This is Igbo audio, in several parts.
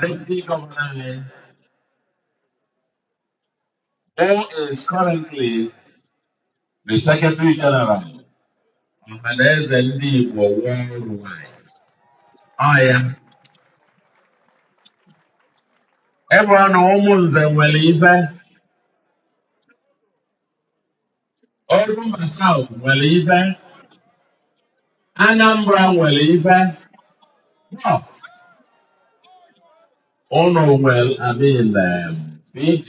Deputy Governor anyị, who is currently the Secretary General Ọhaneze ndị Igbo worldwide. Ọ ya. Ebe ọ na Ụmụnze nwere ife Orumba South nwere ife, Anambra nwere ife, no, ụnụ nwere I mean, em, PG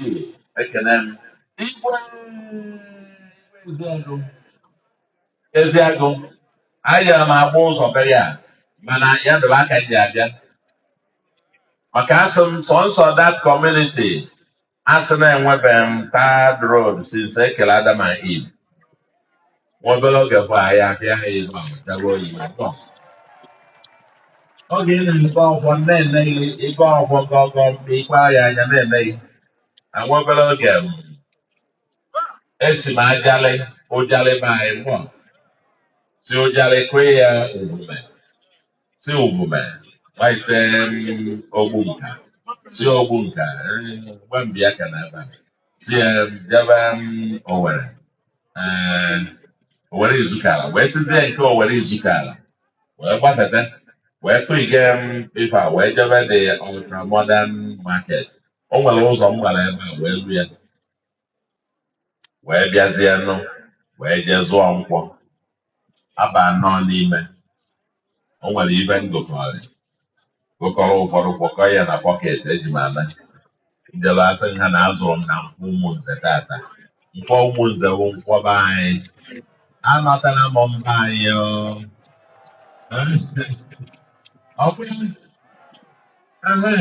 ekene m. Igwe Eziagụ, Eziagụ, a ya m agba ụzọ be ya mana ya dịrị aka ji abịa maka a sị m sọnsọ that community A sị na enwebeghị m tarred road since e kere Adam and Eve. Nwa obere oge bụ anyị abịa ha ibe ahụ jaba oyi na tọ. Oge ị na-ebe ọfọ na-eme gị ịgọ ọfọ gọgọ mgbe ikpe ahịa anya na-eme gị. Na nwa obere oge m, esi m Ajalị, Ụjalị be anyị mụọ si Ụjalị kụọ ya Uvume. si Uvume gbaite m, Ogbunka si Ogbunka eh, gba mbịa ka na ebe a si eh, bịaba m, Owere eh, Owere Ezukala wee sizie nke Owere Ezukala wee gbafete wee tụige m ife a wee jebe the ultra modern market o nwere ụzọ m gbara ebe a wee lu ya wee bịazienụ wee jee zụọ nkwọ aba nnọọ n'ime o nwere ife m gokọrị gokọrọ ụfọdụ kpọkọ ya na basket eji m ana m jelu asị ha na azụrụ m na Nkwọ Ụmụnze taata Nkwọ Ụmụnze bụ nkwọ be anyị anọtala m be anyị o. ọ bụrụ ehe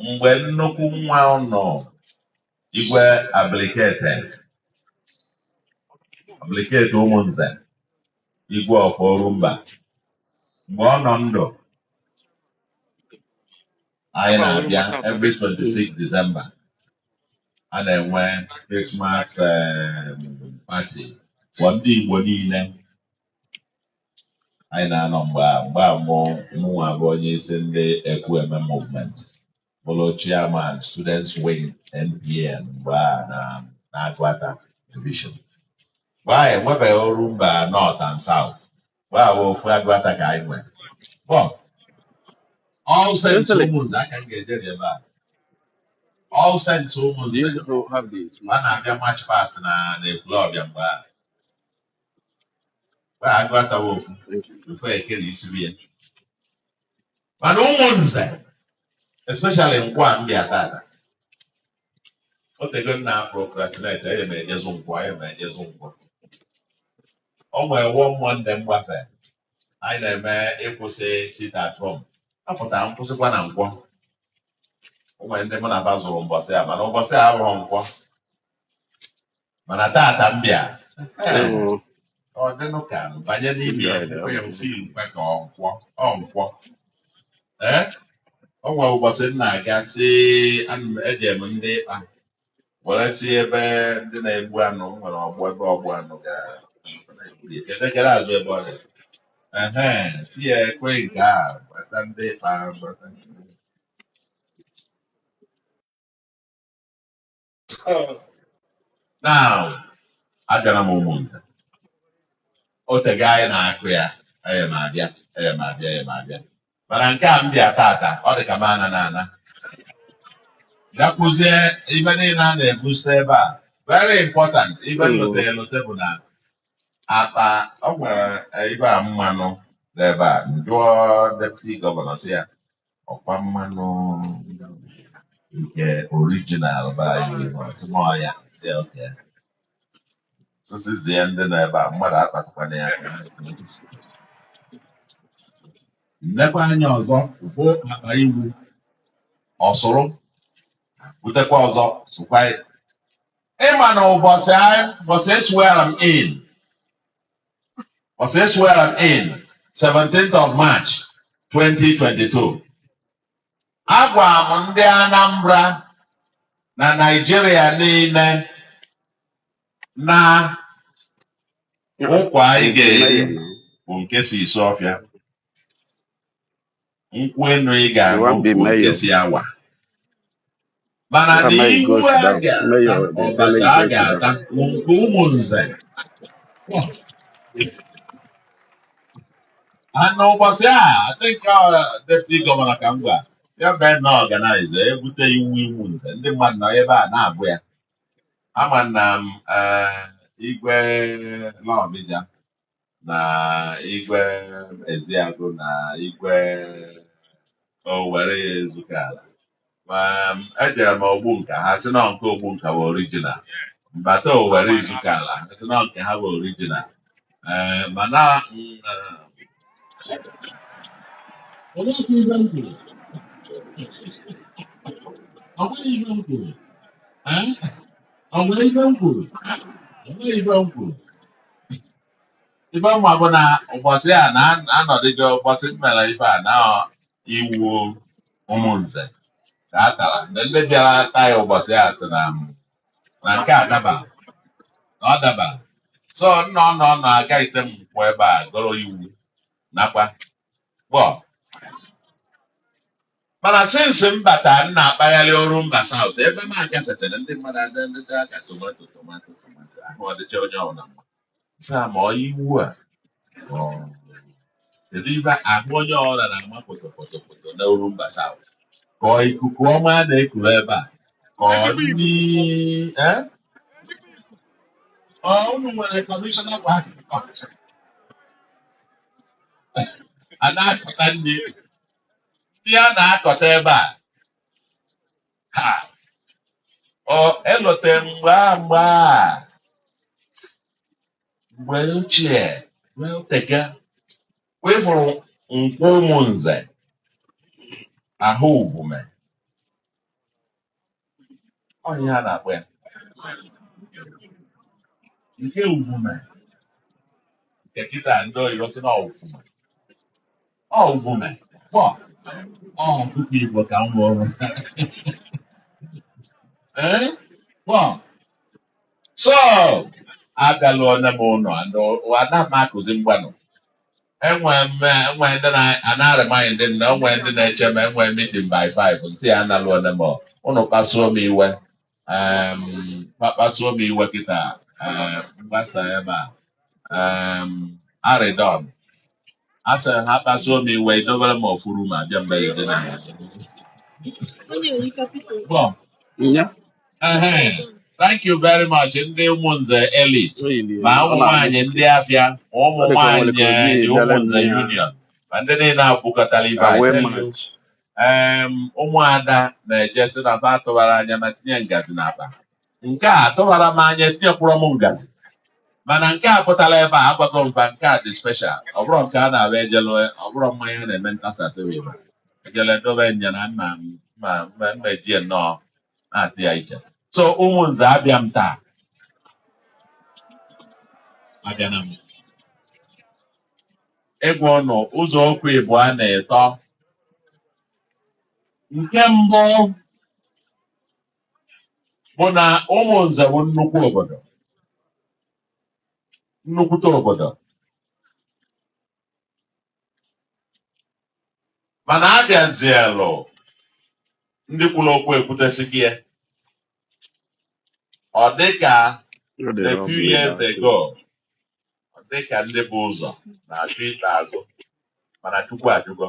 mgbe nnukwu nwa ụnụ Igwe Abilikete Abilikete Ụmụnze Igwe of Orumba mgbe ọ nọ ndụ anyị na-abịa every 26 December a na-enwe Christmas um, party for ndị Igbo niile anyị na-anọ mgbe a mgbe a mụ mụnwa bụ onye isi ndị Ekwueme movement bụrụ chairman students wing NPN mgbe a nọ n'Agụata division mgbe a enwebeghị Orumba North and South mgbe a bụ ofu Agụata ka anyị nwere from All Saints Ụmụnze aka m ga-eje n'ebe a All Saints Ụmụnze a na-abịa march past na Ekwulọbịa mgbe a Wee agụ atawa ofu ofu eke na isuru ya mana Umunze especially nkwọ a m bịa tata o tego m na-procrastinate eye m ejezu nkwọ eye m ejezu nkwọ o nwere one Monday m gbafe anyị na-eme ịkwụsị sit at home apụtara m kwụsịkwa na nkwọ o nwere ndị mụ na ba zuru mbọsị a mana ụbọchị a abụghị nkwọ mana tata m bịa ọ dịnụ ka m banye n'ime ya fụkwa ya ofe ilukwa ka ọ nkwọ ọ nkwọ ee o nwere ụbọchị m na-aga si ana m eje m Ndikpa were si ebe ndị na-egbu anụ m nwere ọgbụ ebe ogbu anụ ga kedekere azụ ebe ọ dị ehe si ya ekwe nke a gbata Ndikpa gbata ndị Now, abịara m Umunze o tego anyị na-akụ ya eye m abịa eye m abịa eye m abịa mana nke a m bịa tata ọ dị ka m ana na ana gakwuzie ibe niile a na-egosi ebe a very important ibe Mm. m lote elote bụ na akpa o nwere ibe a mmanụ n'ebe a m jụọ deputy gọvanọ sị ya ọ kwa mmanụ nke orijinal be anyị ọ sị m ọ ya sị okay sụsịzie ya ndị nọ ebe a mmadụ akpatụkwana ya aka m nekwa anya ọzọ ụfụ akpa iwu ọ sụrụ butekwa ọzọ sụkwa ya ị ma na ụbọchị anyị- ụbọchị e swear m in ọsị e swear m in 17th of March 2022 agwa m ndị Anambra na Naịjirịa niile na ụkwa anyị ga-eri bụ nke si Isuọfịa nkwụ enu ị ga-aṅụ bụ nke si Awa mana na iwu a ga-ata abacha a ga-ata bụ nke Umunze and ụbọchị a I think depụti gọvanọ ka m gwa ya bee na-organize e bute iwu Umunze ndị mmadụ nọ ebe a na-abụ ya ama na m igwe Nawfija na igwe eziagụ na igwe owere ya ezuka ala ma ejere m ogbu nka ha sị na nke ogbu nka bụ orijinal mbata owere izuka ala ha sị na nke ha bụ orijinal ee mana mm, Olee otu ibe m kwuru? Ọ bụghị ibe m kwuru. Ee? Ọ nwere ibe m kwuru? Ọ bụghị ibe m kwuru. ife m ma bụ na ụbọchị a na anọdịgo ụbọchị m mere ife a na iwu ụmụnze ka a tara mgbe ndị bịara taa ya ụbọchị a sị na na nke a dabara na ọ dabara so nna ọ nọ nọ aga ite nkwụ ebe a goro iwu nakwa gboo, mana since m bata m na-akpagharị Orumba South ebe m agafetere ndị mmadụ adịcha ka tomato tomato tomato ahụ ọ dịcha onye ọbụla mma sa ma ọ iwu a ma ọ- kedu ife ahụ onye ọbụla na-ama potopotopoto na Orumba South ka ọ ikuku ọma a na-ekuru ebe a ka ọ nri eh? Ọ, unu nwere kọmishọna kwa a na-akọta nri ndị a na-akọta ebe a ha ọ elote mgbe a mgbe a mgbe ochie mgbe ọ teka wee fụrụ nkwọ ụmụnze ahụ uvume ọ ihe a na-akpọ ya nke uvume nke kịta ndị oyibo sị na ọ ufume ọ uvume ọ ọkụkọ igbo ka m wụrụ ee kpọ so agaluone m ụnọ ana m akụzi mgbanụ enwe mme enwe ndị na-arịmanyị ndị m na enwe ndị na-eche m enwe meeting by 5 m sị ya analuone m ụnụ kpasuo m iwe em, kpa- kpasuo m iwe kịta em, m gbasaa ebe a em, arịdọn a sị ha kpasuo m iwe idobere m ofuru ma bịa mgbe gị dị na ya Bọ, Nya. Ehe. Thank you very much ndị ụmụnze elite Oyi dị ma ụmụ nwaanyị ndị afịa ma ụmụ nwaanyị eh, ụmụnze union ma ndị niile akwụkọtara ibe anyị away n'elu match. em ụmụada na-eje sị na fa tụbara anya ma tinye ngazi n'akpa nke a tụbara m anya tinyekwuru m ngazi mana nke a pụtara ebe a agwago m fa nke a dị special ọ bụrọ nke a na-abụ ejelu ọ bụrụ mmanya na-eme ntasasị wee ejele dobe nya na nna m ma mma mma ejie nnọọ na-ata ya iche so ụmụnze abịa m taa abịa na m ịgwa ụnụ ụzọ okwu ịbụa na atọ nke mbụ bụ na ụmụnze bụ nnukwu obodo nnukwute obodo mana a bịazielụ ndị kwuru okwu ekwutesighị ya ọ dịka a few years ago ọ dịka ndị bu ụzọ na-achọ ikpe azụ mana Chukwu ajụgo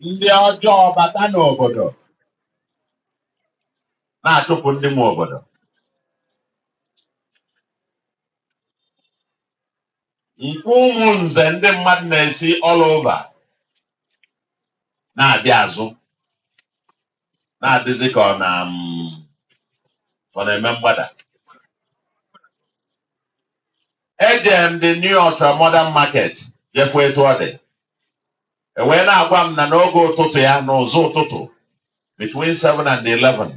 ndị ọjọọ bata n'obodo na-achụpụ ndị nwe obodo Nkwọ Umunze ndị mmadụ na-esi all over na-abịa azụ na-adịzi ka ọ na mm, ọ na-eme mgbada eje m the new ultra modern market je fụ etu ọ dị e wee na-agwa m na n'oge ụtụtụ ya n'ụzọ ụtụtụ between 7 and 11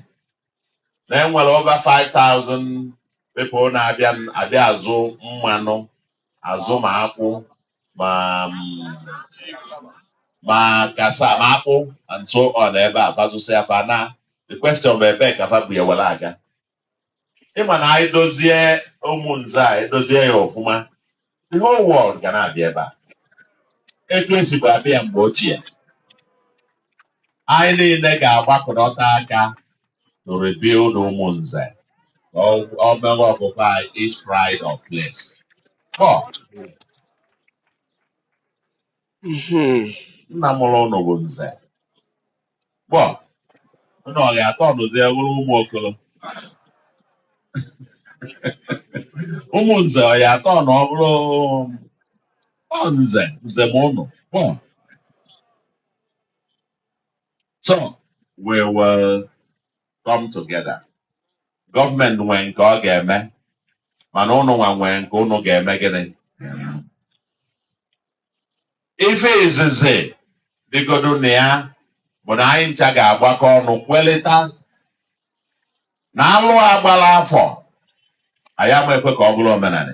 na enwere over 5000 people na-abịa abịa azụ mmanụ azụ ma akwụ ma mm, ma kasa ma akpụ and so on ebe a fa zụsịa fa na the question bụ ebee ka fa bu ya were aga ị ma na anyị dozie Umunze a edozie ya ọfụma the whole world ga na-abịa ebe a etu esibu abịa mgbe ochie anyị niile ga-agbakọta aka to rebuild Umunze ka ọ- ọ mewe occupy its pride of place Mhm. nna mụrụ ụnụ bụ nze gbọ ụnụ ọ ga-atọ ọnụzie bụrụ ụmụ okoro Umunze ọ ya atọ na ọ bụrụ ọ nze nze mụ ụnụ gbọ so we will come together gọọmenti nwee nke ọ ga-eme mana ụnụ nwa nwee nke ụnụ ga-eme gịnị ife izizi dịgodu na ya bụ na anyị ncha ga-agbakọ ọnụ kwelịta na alụ a gbala afọ anyị ama ekwe ka ọ bụrụ omenani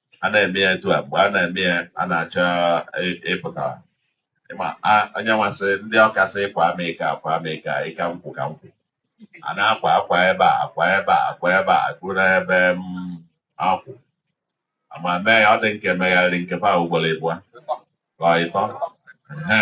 a na-eme ya etu a mgbe a na-eme ya a na-achọ ị- ịpụta ịma a- onye nwasị ndị Ọka sị kwa m ike akwa m ike a, ịka nkwụ ka nkwụ a na-akwa akwa ebe a akwa ebe a akwa ebe a akwa n'ebe m akwụ ma mee ya ọ dị nke megharịrị nke fa ugboro ịbụọ ka ọ ịtọ Ehe.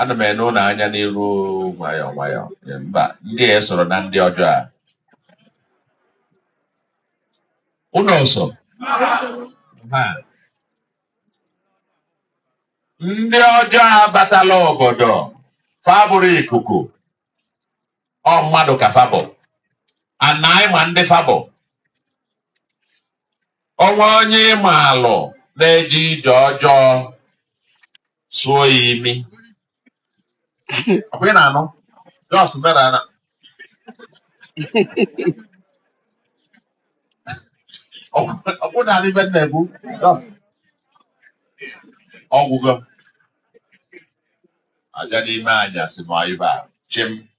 ana m ene unu anya n'iru nwayọọ nwayọọ Ee, mba ndị a esoro na ndị ọjọọ a unu sị na ndị ọjọọ abatala obodo fa abụrọ ikuku ọ mmadụ ka fa bụ na anyị ma ndị fa bụ onwe onye ị malụ na-eje ije ọjọọ sụọ ya imi ọkwa ị na-anụ just mara na okwu na ife m na-ekwu just ọgwụgo m abịa n'ime anyasị ma ibe a chịm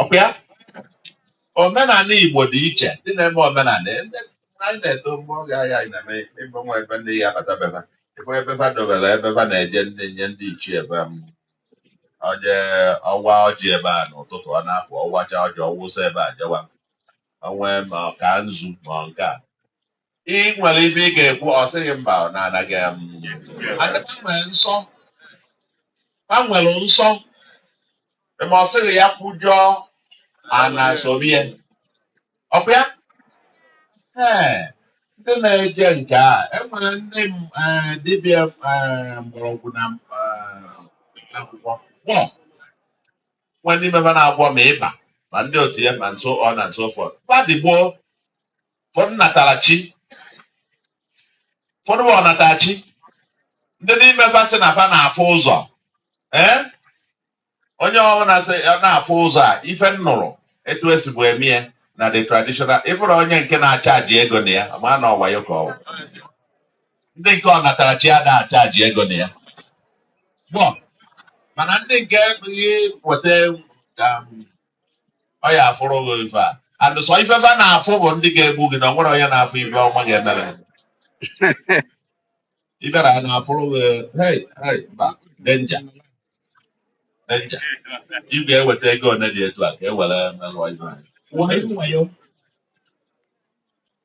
ọkwa ya omenala Igbo dị iche ndị na-eme omenala ndị anyị na-eto mgbe oge ahụ anyị na-eme ebe nwa ebe ndị ya bata beba ebe ebe fa dobere ebe fa na-eje enye ndị ichie ebe o je ọwa ọjị ebe a n'ụtụtụ ọ na-apụ ọwacha ọjị ọwụsa ebe a jewa onwe ma ọ ka nzu ma ọ nke a ị nwere ife ị ga-ekwu ọ sị gị mba ọ na-anaghị m ana nwere nsọ ha nwere nsọ ma ọ sị gị ya kwujọọ ana sobie ọkwa ya ee ndị na-eje nke a enwere ndị m- eh, dibịa eh, mgbọrọgwụ na mkpa akwụkwọ onwee ndị ime fa na-agwọ ma ịba ma ndị otu ya and so on and so forth fa dị gboo ụfọdụ natara chi ụfọdụ bụ ọnatara chi ndị n'ime fa sị na fa na-afụ ụzọ ee onye ọbụla sị ya na-afụ ụzọ a ife m nụrụ etu esibu emie na the traditional ị fụrụ onye nke na-achaji ego na ya ma na ọ wayo ka ọ wụ ndị nke ọnatara chi ada achaji ego na ya gboo mana ndị nke ihe weta um, ọ ya afụrụ gị ife a and sọ ife fa na-afụ bụ ndị ga-egbu gị na onwerọ onye na-afụ ife ọma ga-emere gị. ị bịara ha na-afụrụ gị hey hey mba danger danger ị ga-eweta ego ole dị etu a ka e were merụọ ife anyị Wayo, wayo.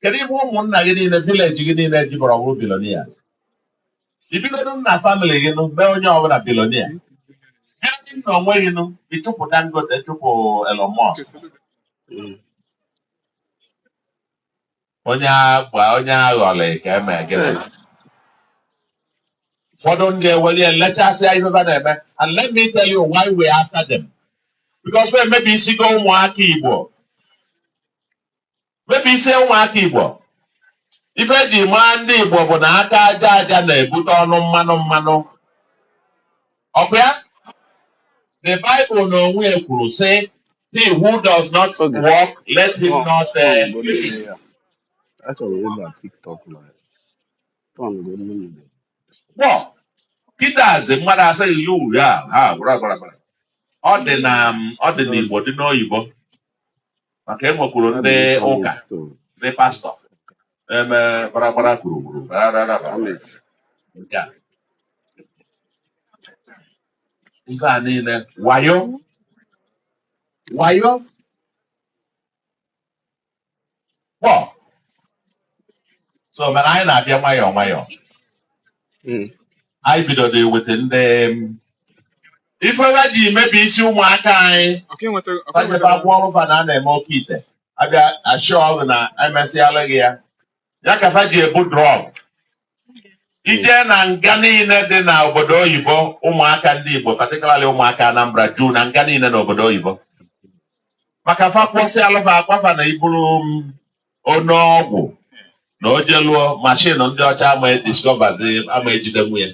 kedu ihe ụmụnna gị niile village gị niile jiberọ bụrụ billionaire i bidodo na family gị nụ mee onye ọbụla billionaire bidodo na onwe gị nụ ịchụpụ Dangote chụpụ Elon Musk Mm. onye agba onye aghọlị ka eme gịnị Eh, ụfọdụ ndị eweli elechasịa ihe ha na-eme and let me tell you why we are after them because we emebisigo ụmụaka Igbo mebi isi ụmụaka Igbo ife eji maa ndị Igbo bụ na aka aja aja na-ebute ọnụ mmanụ mmanụ ọkwa ya the Bible na onwe ya kwuru sị he who does not work let him not eat. Kpọ, kịtazi mmadụ asịghị ya uri a ha gwara gwara gwara. ọ dị na ọ dị n'Igbo dị n'oyibo maka e nwekwuru ndị ụka ndị pastọ eme gbaragbara gburugburu nke a ife a niile wayo wayo kpọ so mana anyị na-abịa nwayọọ nwayọọ Mm. anyị bidoro eweta ndị em, ife wa ji mebi isi ụmụaka anyị fa jebe agwọọrụ fa na a na-eme oke ite abịa assure gị na emesịala gị ya ya ka fa ji ebu drug i je na nga niile dị na obodo oyibo ụmụaka ndị Igbo particularly ụmụaka Anambra juu na nga niile na obodo oyibo maka fa gwọsịalụ fa a gwa fa na i buru mm, onye ọgwụ na o jeluo mashin ndị ọcha ama discoverzi ama ejidenwu ye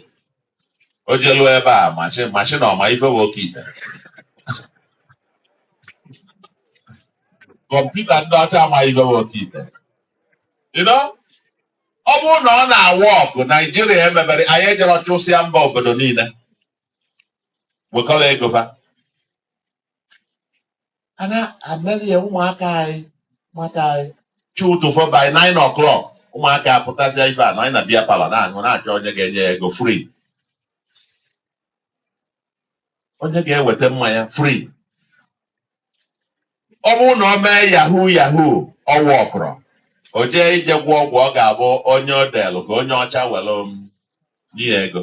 o jeluo ebe a mashin mashin ọ ma ife bụ oke ite kọmputa ndị ọcha ama ife bụ oke ite you know? ọ bụrụ na ọ na-awork Naijiria emebere anyị ejere chụsịa mba obodo niile wekọrọ ego fa a na-emeli ya ụmụaka anyị ụmụaka anyị chi ụtụtụ fo by 9 o'clock ụmụaka apụtazịa ife a na anyị na beer parlour na-aṅụ na-achọ onye ga-enye ya ego free onye ga-eweta mmanya free ọ bụrụ na ọ mee yahoo yahoo ọ workrọ o jee ije gwọ ọgwụ ọ ga-abụ onye o deelụ ka onye ọcha were m nye ya ego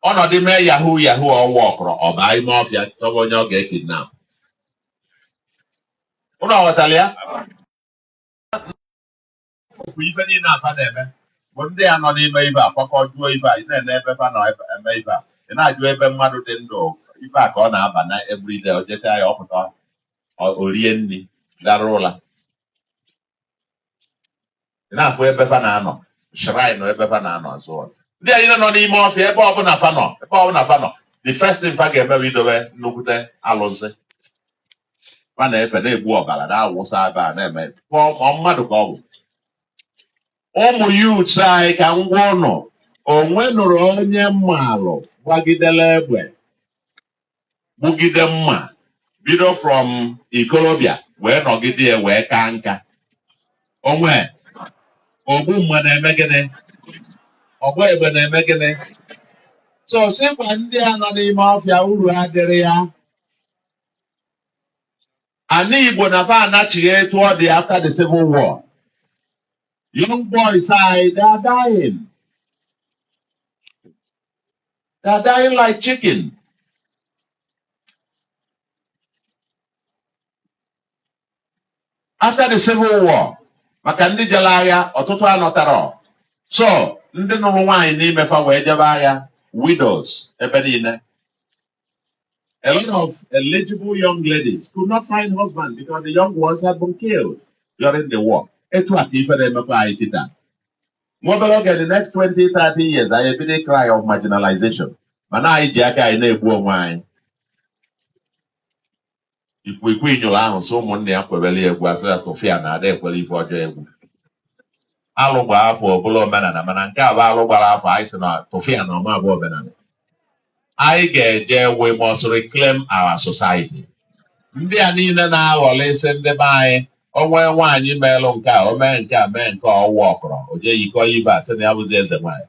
ọ nọdụ mee yahoo yahoo ọ workrọ ọ baa ime ọfịa chọba onye ọ ga-ekidnap ụnụ ghọtara ya bụ ife niile a fa na-eme bụ ndị a nọ n'ime ibe a kwakọ jụọ ife a ị na-ene ebe fa nọ ebe- eme ife a ị na-ajụ ebe mmadụ dị ndụ ife a ka ọ na-aba na everyday o jecha ya ọ pụta o- o rie nri gara ụla ị na-afụ ebe fa na-anọ shrine ebe fa na-anọ and so on. ndị anyị nọ n'ime ọfịa ebe ọbụla fa nọ ebe ọbụla fa nọ the first thing fa ga-eme bụ idobe nnukwute alụsị fa na-efe na-egbu ọbara na-awụsa ebe a na-eme ka ọ ma ọ mmadụ ka ọ bụ ụmụ youths anyị ka ngwa ụnụ o nwenụrụ onye m malụ gbagidere egbe gbugide mma bido from ikolobịa wee nọgide ya wee kaa nka o nwe ogbu mma na-eme gịnị ọgba egbe na-eme gịnị so sịkwa ndị a nọ n'ime ọfịa uru adịrọ ya ana Igbo na fa anachigha etu ọ dị after the civil war young boys anyị they are dying They are dying like chicken. After the Civil War, maka ndị jere agha ọtụtụ anọtarọ so ndị nụrụ nwaanyị n'ime fa wee jebe agha widows ebe niile a lot of eligible young ladies could not find husband because the young ones had been killed during the war etu a ka ife na-emekwa anyị kịta nwa obere oge the next 20 30 years anyị ebido ị cry of marginalization mana anyị ji aka anyị na-egbu onwe anyị ikwikwii nyụrụ ahụ sị ụmụnne ya kwebere ya egwu a sị ya tụfịa na ada ekwere ife ọjọọ egwu alụ gbaa afọ ọ bụlụ omenana mana nke a bụ alụ gbara afọ anyị sị na tụfịa na ọ ma bụ omenana anyị ga-eje we must reclaim our society ndị a niile na-aghọrọ isi ndị be anyị o nwe nwaanyị meelụ nke a o mee nke a mee nke ọ wụ ọ kọrọ o jee yikọ ive a sị na ya bụzi eze nwaanyị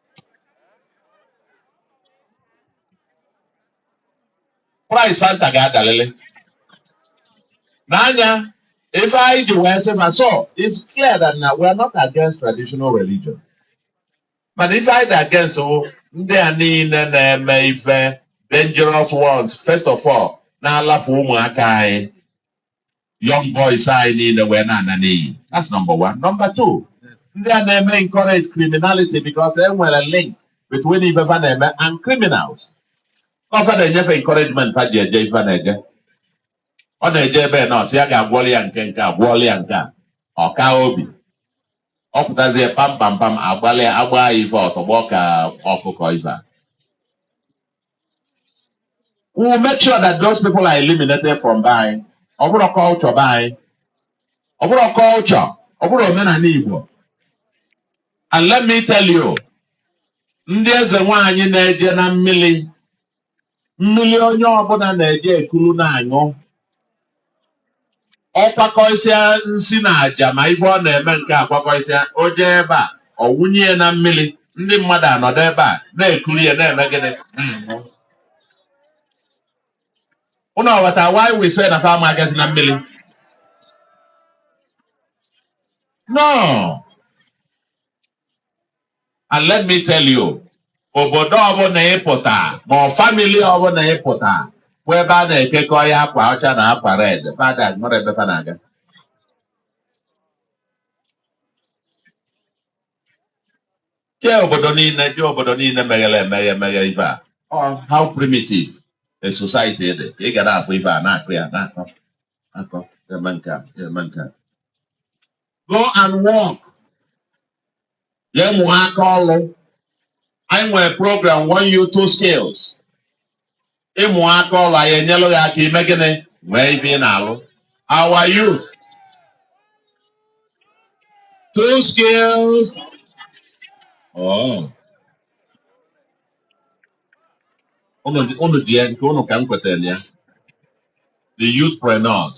price Fanta ga-adalele n'anya ife anyị ji wee sị ma so it's clear that na we are not against traditional religion mana ife anyị dị against wụ ndị a niile na-eme ife dangerous ones first of all na-alafu ụmụaka anyị young boys anyị niile wee na-ana n'iyi that's number one number two ndị a na-eme encourage criminality because e nwere link between ife fa na-eme and criminals ọ fa na-enye fa encouragement fa ji eje ife na-eje ọ na-eje ebe na ọ sị ya ga-agwọli ya nke nke a gwọọli ya nke a ọ kaa obi ọ pụtazie pam pam pam agbalị a gbaa ya ife ọ tọgbọ ka ọkụkọ ife a we will make sure that those people are eliminated from be anyị ọ bụrọ culture be anyị ọ bụrọ culture ọ bụrọ omenana Igbo and let me tell you ndị eze nwaanyị na-eje na mmiri mmiri onye ọbụla na-eje ekulu na-aṅụ ọ kwakọsịa nsi na aja ma ife ọ na-eme nke a kwakọsịa o jee ebe a ọ wụnye ya na mmiri ndị mmadụ anọdụ ebe a na-ekuli ya na-eme gịnị na-aṅụ ụnụ aghọta why we say na fa ama agazi na mmiri no and let me tell you obodo ọbụla ị pụta ma ọ family ọbụla ị pụta fụ ebe a na-ekekọ ya akwa ọcha na akwa red fa ada enwere ebe fa na-aga jee obodo niile jee obodo niile meghere emeghe meghe ife a Ọ, how primitive a society dị ka ị ga na-afụ ife a na-akụ ya na-akọ akọ eme nke a eme nke a go and work jee mụọ aka ọrụ anyị nwere program one youth two skills ị mụọ aka ọrụ anyị enyelụ gị aka i mee gịnị nwee ife ị na-alụ our youth two skills oh. unu dị- unu dị ya nke unu ka m kwetara ya the youthpreneurs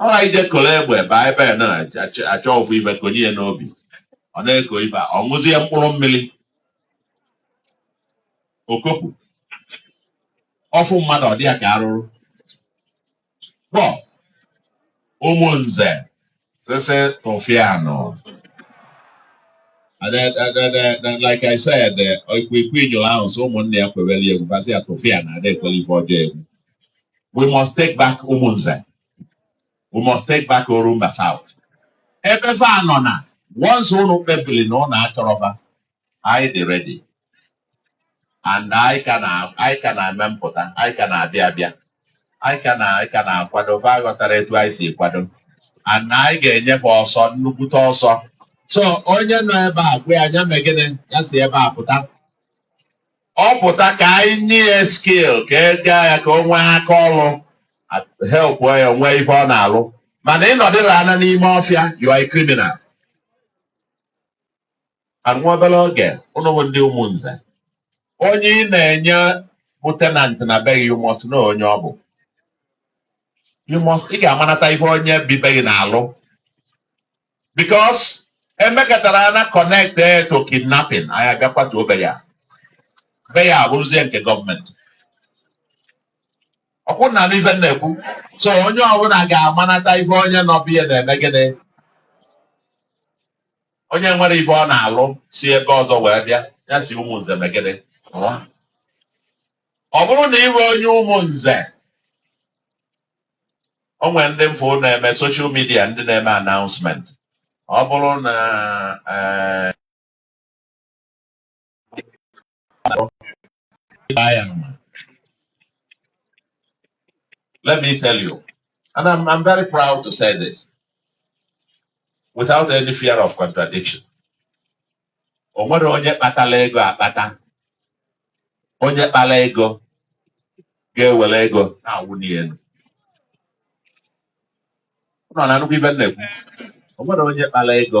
alright jee koro egbe ebe anyị be na-achọ achọ ofu ibe konye ya n'obi ọ na-eko ibe a, ọ ṅụzie mkpụrụ mmiri okopu ọ fụ mmadụ ọ dị ya ka arụrụ kpọ Umunze This is Tofiano. And then, and then, then, then, like I said, eh, if we quit your house, someone there could really have passed here to fear, and they call you for jail. We must take back Umunza. We must take back Orumba South. Ebe fa anọ na, once unu kpebiri na unu achọrọ fa, anyị dị ready. and anyị ka na anyị ka na-eme mpụta anyị ka na-abịa abịa anyị ka na anyị ka na-akwado fa aghọtarọ etu anyị si kwado and anyị ga-enye fa ọsọ nnukwute ọsọ so onye nọ ebe a gwa ya nya mee gịnị ya si ebe a pụta ọ pụta ka anyị nye ya skill ka e gaa ya ka o nwee aka ọrụ help ya nwee ife ọ na-alụ mana ị nọdịrị ana n'ime ọfịa you are a criminal and nwa obere oge unu bụ ndị Umunze onye ị na-enye bụ tenant na be gị you must know onye ọ bụ you must ị ga-amanata ife onye bi be gị na-alụ because e mekatara ya na connect eh, to kidnapping anyị abịa kwatuo be ya be ya abụrụzie nke gọọmenti ọkwa unu na-anụ ife m na-ekwu so onye ọbụla ga-amanata ife onye nọ be ya na-eme gịnị onye enwerọ ife ọ na-alụ si ebe ọzọ wee bịa ya si Umunze mee gịnị pụọ ọ bụrụ na ị bụ onye Umunze o nwere ndị m fụ na-eme social media ndị na-eme announcement ọ bụrụ na eh, Let me tell you, and I'm, I'm very proud to say this without any fear of contradiction. O nwerọ onye kpatara ego akpata, onye kpara ego ga-ewere ego na-awụ n'elu. Unu na-anụkwa ife m na-ekwu. O nwerọ onye kpara ego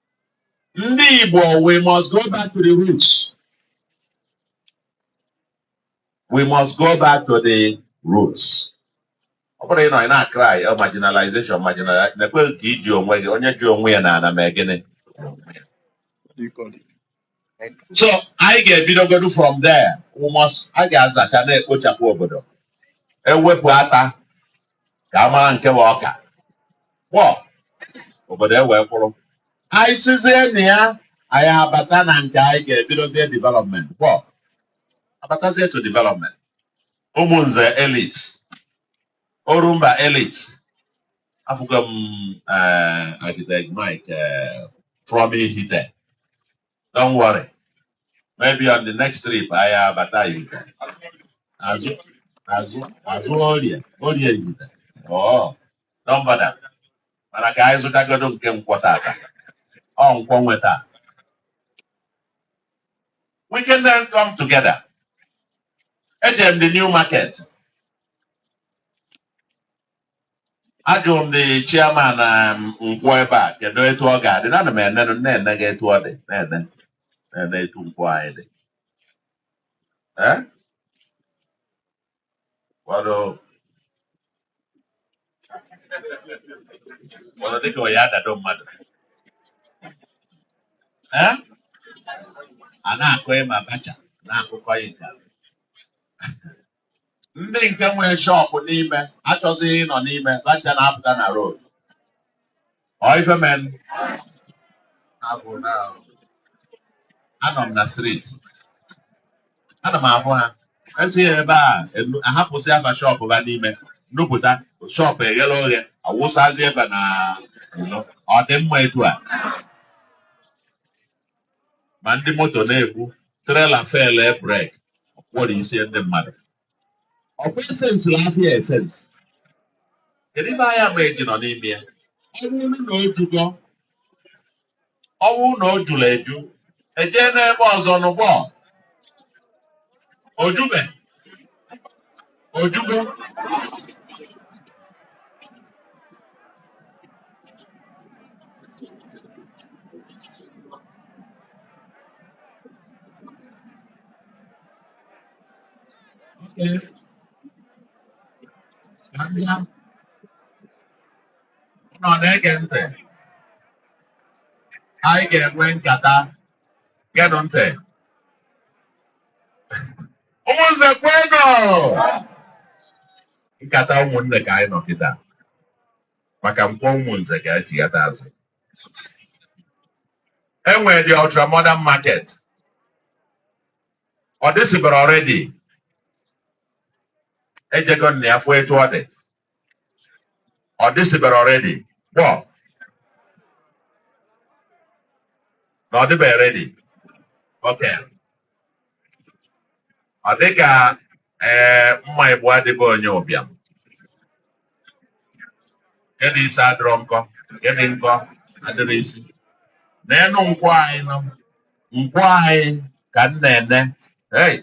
ndị Igbo we must go back to the roots we must go back to the roots ọ bụrọ ịnọ ị na-acry oh, marginalization marginalization na-ekwe ka iji onwe gị onye ji onwe ya n'ana mee gịnị so anyị ga-ebidogodu from there we must a ga-azacha na-ekpochapụ obodo ewepụ ata ka a mara nke bụ ọka kpọọ obodo ewee kwụrụ anyị sizie na ya anyị abata na nke anyị ga-ebidozie development kpọọ abatazie to development Umunze elites Orumba Elite afụgo m eh, architect Mike eh, from Ihite don't worry maybe on the next trip anyị abata Ihite azụ azụ azụ Orie Orie Ihite oh don't bother mana ka anyị zụtagodo nke nkwọ tata ọ nkwọ nwe taa we can then come together eje m the new market ajụrụ m the chairman nkwọ ebe a kedu etu ọ ga-adị na ana m ene na-ene gị etu ọ dị na-ene na-ene etu nkwọ anyị dị ee ụfọdụ ụfọdụ dịka ọ ya-adado mmadụ ee a na-akọ ịma bacha na-akụkọ ya nke a. ndị nke nwee shop n'ime achọzighị ịnọ n'ime bacha na-apụta na road ọ ife mee abụ na anọ m na street ana m afụ ha esi ya ebe a enu- ahapụsịa ba shop ba n'ime nupụta shop eghere oghe awụsazi ebe na ụlọ ọ dị mma etu a ma ndị moto na-egbu trailer fail brake ọ kwọrọ isi ndị mmadụ ọkwa efensịla afịa efensị kedu ife ahịa ma eji nọ n'ime ya ọ bụrụ na o jugo ọ bụrụ na o jụrụ eju ejee n'ebe ọzọ nụ gbọ o jube O jugo. Okay. Abịa. Nọ na-ege ntị. Anyị ga-enwe nkata. Geenụ ntị. ụmụnze kwenụ nkata ụmụnne ka anyị nọ kịta maka nkwọ ụmụnze ka e chighata azụ enwere the ultra modern market ọ dịsịbara already ejego na ya fụ etu ọ dị Ọ dịsịbere already kpọ na ọ dịbeghị ready okay ọ dị ka ee mma ịbụa dị be onye ụbịam nke dị isi adịrọ nkọ nke dị nkọ adịrọ isi nenụ nkwọ anyị nọ nkwọ anyị ka m na-ene hey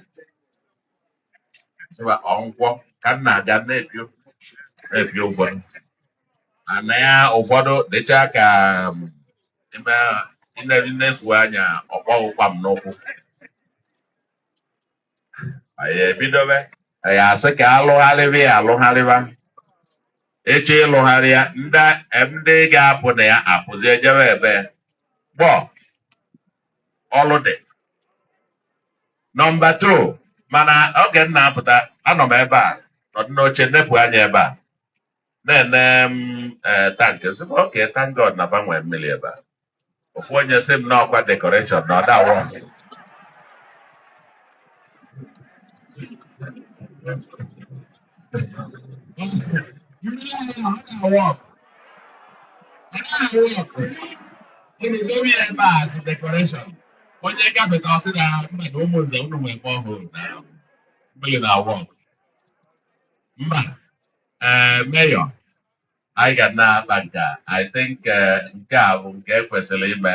sịwa ọ nkwọ ka m na-aga na-epio na-epio ụfọdụ ana ya ụfọdụ dịcha ka um, ime ine- i nefu anya ọ kpọ ghụ kwam n'ụkwụ anyị ebidobe anyị asị ka alụgharịba ya alụgharịba eche ịlụgharị ya ndị ndị ga-apụ na ya apụzi ejebe ebe gbọ ọlụ dị Number two, mana oge m na-apụta anọ m ebe a nọdụ n'oche nepụ anya ebe a na-ene m ee tank sị m okay thank God na fa nwee mmiri ebe a ofu onye sị m na ọkwa decoration na ọ da wo onye gafeta ọ sị na mba na ụmụnze unu nwee ebe ọ hụrụ na mmiri na-awork mba ee mayor anyị ga na-akpa nke a i think eh, nke a bụ nke e kwesịrị ime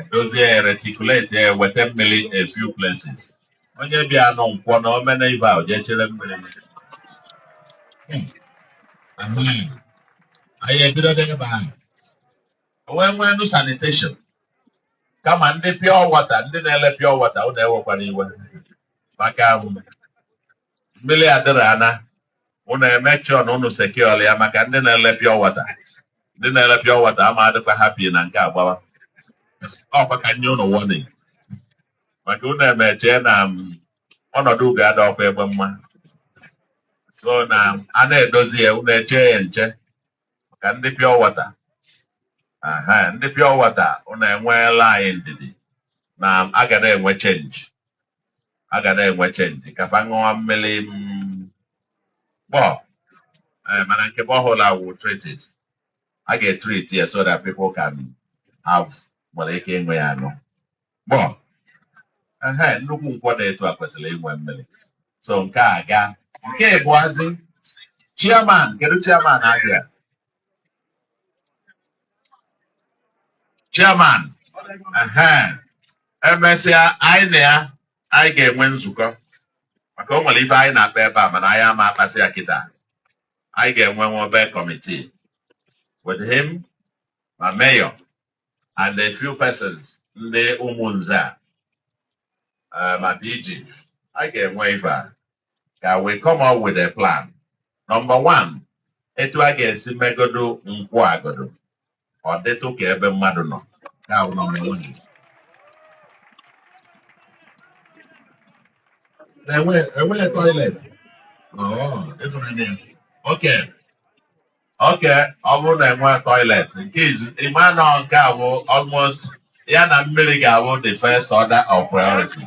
edozie ya reticulate ya weta mmiri a few places onye bịanụ nkwọ na o mena ife a ọ jee chere mmiri Hmm. Ahem. anyị ebido n'ebe ahụ wee nweenụ sanitation kama ndị pure water ndị na-ele pure water unu ewekwana iwe maka ahụ mmiri adịrị ana ụnụ eme sure na ụnụ secure ya maka ndị na-ele pure water ndị na-ele pure water ama adịkwa happy na nke a gbawa ọkwa ka m nye ụnụ warning maka ụnụ emeche na mm, ọnọdụ ugo ada ọkwa egbe mma so na a na-edozi ya ụnụ eche ya nche maka ndị pure water ehe ndị pure water ụnụ enweela anyị ndidi na a ga na-enwe change a ga na-enwe change ka fa ṅụọ mmiri mm, gbọ Eh, mana nke borehole awụ treated a ga-etrit ya so that people can have nwere ike ịṅụ ya aṅụ gbọ ehe nnukwu Nkwọ dị etu a kwesịrị inwe mmiri so nke a ga nke ịbụazị chairman kedu chairman abịa chairman ehe emesịa anyị na ya anyị ga-enwe nzukọ maka o nwere ife anyị na-akpa ebe a mana anyị ama akpasị ya kịta anyị ga-enwe nwa obere committee with him ma mayor and a few persons ndị Umunze a ma PG a ga-enwe ife a ka we come up with a plan number one etu a ga-esi megodu Nkwọ a godu ọ dịtụ ka ebe mmadụ nọ nke a bụ number one enweghị toilet oh, okay okay ọ bụrụ na e nwee toilet nke ị ma na nke a bụ almost ya na mmiri ga-abụ the first order of priority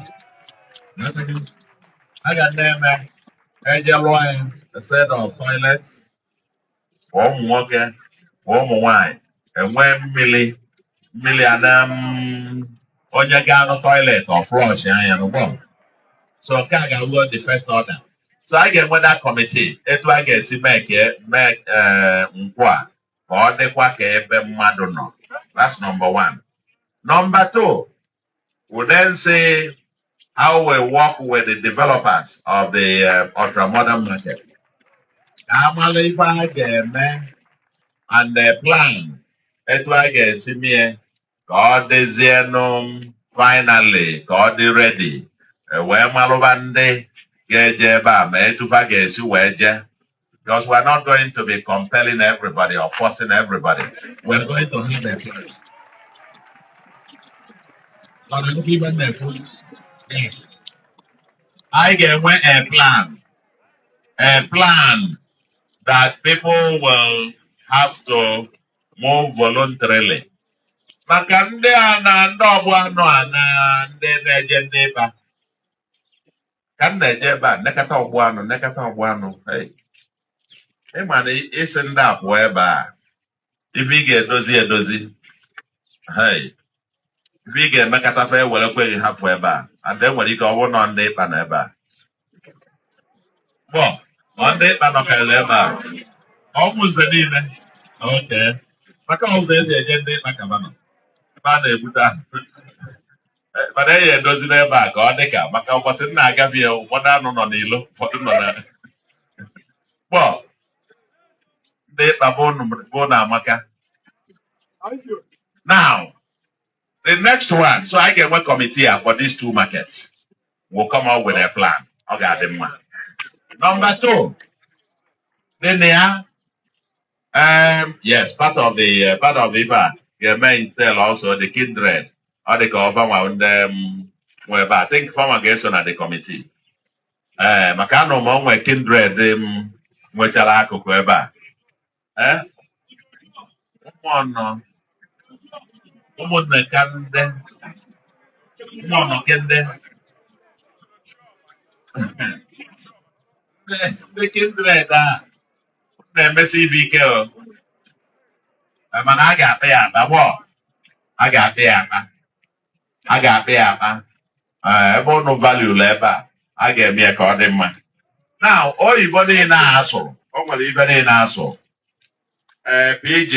a ga na-eme e je lụọ ya a set of toilets for ụmụ nwoke for ụmụ nwanyị e nwee mmiri mmiri a na mm, onye gaa na toilet ọ flọshịa ya gbọ so nke a ga-abụ the first order so a ga-enwe that committee etu a ga-esi mee ka e- mee eh, Nkwọ a ka ọ dịkwa ka ebe mmadụ nọ that's number one number two we'll then see how we work with the developers of the uh, ultra modern market. A malụ ife a ga-eme and the plan etu a ga-esi mie ka ọ dịzienụ finally ka ọ dị ready E wee malụba ndị ga-eje ebe a ma etu fa ga-esi wee jee Because we're not going to be compelling everybody or forcing everybody. We're going to have a plan. Mana nnukwu ife m na-ekwu, eh, anyị ga-enwe a plan, a plan that people will have to move voluntarily. Maka ndị a na ndị ọgbọ anụ a na ndị na-eje Ndị Ịkpa, ka m na-eje ebe a nekata ọgbọ anụ nekata ọgbọ anụ hey, ị ma na ị sị ndị a pụọ ebe a ife ị ga-edozi edozi hey, ife ị ga-emekata fa ewere kweghị hapụ ebe a and e nwere ike ọ bụrụ na Ndị Ịkpa nọ ebe a gbọ ọ Ndị Ịkpa nọkarịrị ebe a Umunze niile okay maka ụzọ e si eje Ndị Ịkpa kaba nọ ebe a na-ebute ahụ Eh, mana e ya edozi n'ebe a ka ọ dị ka maka ụbọchị m na-agafe ya ụfọdụ anụ nọ n'ilo ụfọdụ nọ na kpọ dị mkpa bụ na amaka now the next one so anyị ga-enwe kọmitii a for these two markets will come up with a plan ọ ga-adị mma number two dị na ya Um, yes, part of the uh, part of the ife a ga-eme entail also the kindred ọ dị ka ọ fanwa ndị um, nwe ebe a. I think fanwa ga-eso na the committee ee maka anụ m o nwe kindred um, nwechara akụkụ ebe a ee ụmụọnọ ụmụnne ka ndị ụmụọnọ ke ndị ndị kindred a na-emesi ibe ike o Eh, mana a ga-akpa ya akpa gbọ a ga-akpa ya akpa a ga-akpa ya akpa Eh, ebe ụnụ valuerụ ebe a a ga-eme ya ka ọ dị mma now oyibo niile a a sụrụ o nwere ife niile a sụrụ ee PG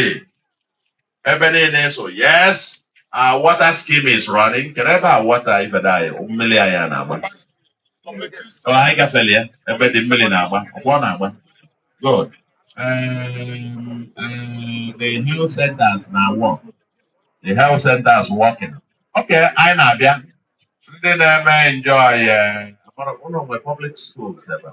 ebe niile so yes our water scheme is running kedu ebe water ife the mmiri ahụ na-agba Ọ, anyị gafere ya ebe the mmiri na-agba ọkwa ọ na-agba good um, um, the health centers na work the health centers working okay anyị na-abịa ndị na-eme enjoy eh, amara- ụnụ nwe public schools ebe a.